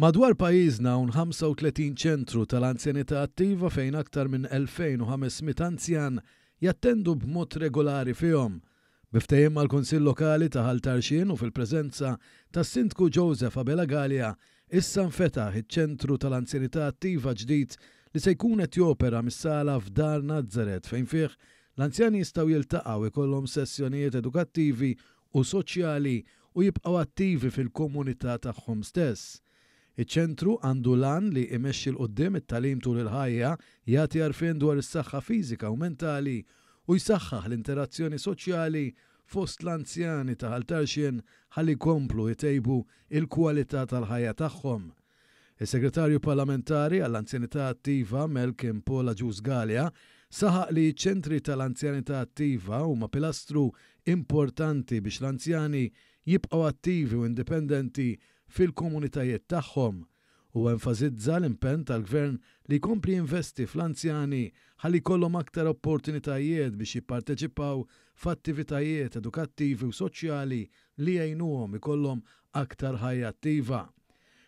Madwar pajjiżna hawn 35 ċentru tal-anzjanità attiva fejn aktar minn 2,500 anzjan jattendu b'mod regolari fihom. Bi ftehim mal-Kunsill Lokali ta' Ħal Tarxien u fil-preżenza tas-Sindku Joseph Abela Galea, issa nfetaħ iċ-ċentru tal-anzjanità attiva ġdid li se jkun qed jopera mis-sala f'Dar Nazaret fejn fih l-anzjani jistgħu jiltaqgħu, ikollhom sessjonijiet edukattivi u soċjali u jibqgħu attivi fil-komunità tagħhom stess. Iċ-Ċentru għandu l-għan li imexxi 'l quddiem it-tagħlim tul il-ħajja, jagħti għarfien dwar is-saħħa fiżika u mentali, u jsaħħaħ l-interazzjoni soċjali fost l-anzjani ta' Ħal Tarxien ħalli jkomplu jtejbu l-kwalità tal-ħajja tagħhom. Is-Segretarju Parlamentari għall-Anzjanità Attiva, Mel Kim Paul Agius Galea, saħaq li ċ-Ċentri tal-Anzjanità Attiva huma pilastru importanti biex l-anzjani jibqgħu attivi u indipendenti fil-komunitajiet tagħhom. Huwa enfasizza l-impenn tal-Gvern li jkompli jinvesti fl-anzjani ħalli jkollhom aktar opportunitajiet biex jipparteċipaw f'attivitajiet edukattivi u soċjali li jgħinuhom ikollhom aktar ħajja attiva.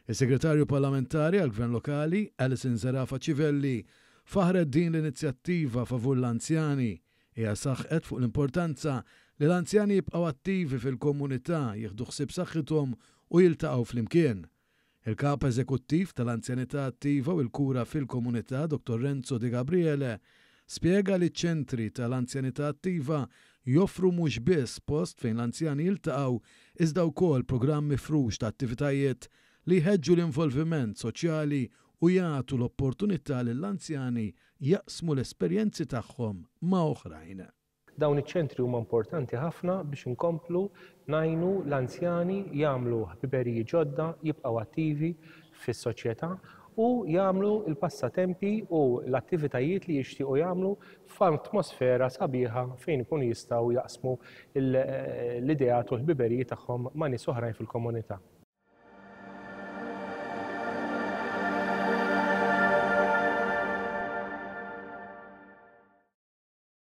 Is-Segretarju Parlamentari għall-Gvern Lokali, Alison Zerafa Civelli, faħħret din l-inizjattiva favur l-anzjani. Hija saħqet fuq l-importanza li l-anzjani jibqgħu attivi fil-komunità, jieħdu ħsieb saħħithom u jiltaqgħu flimkien. Il-Kap Eżekuttiv tal-Anzjanità Attiva u l-Kura fil-Komunità, Dottor Renzo Degabriele, Spjega li ċ-ċentri tal-anzjanità attiva joffru mhux biss post fejn l-anzjani jiltaqgħu iżda wkoll programm mifrux ta' attivitajiet li jħeġġu l-involviment soċjali u jagħtu l-opportunità lill-anzjani jaqsmu l-esperjenzi tagħhom ma' oħrajn. Dawn iċ-ċentri huma importanti ħafna biex inkomplu ngħinu l-anzjani jagħmlu ħbiberiji ġodda, jibqgħu attivi fis-soċjetà u jagħmlu l-passatempi u l-attivitajiet li jixtiequ jagħmlu f'atmosfera sabiħa fejn ikunu jistgħu jaqsmu l-ideat u l-ħbiberiji tagħhom ma' nies oħrajn fil-komunità.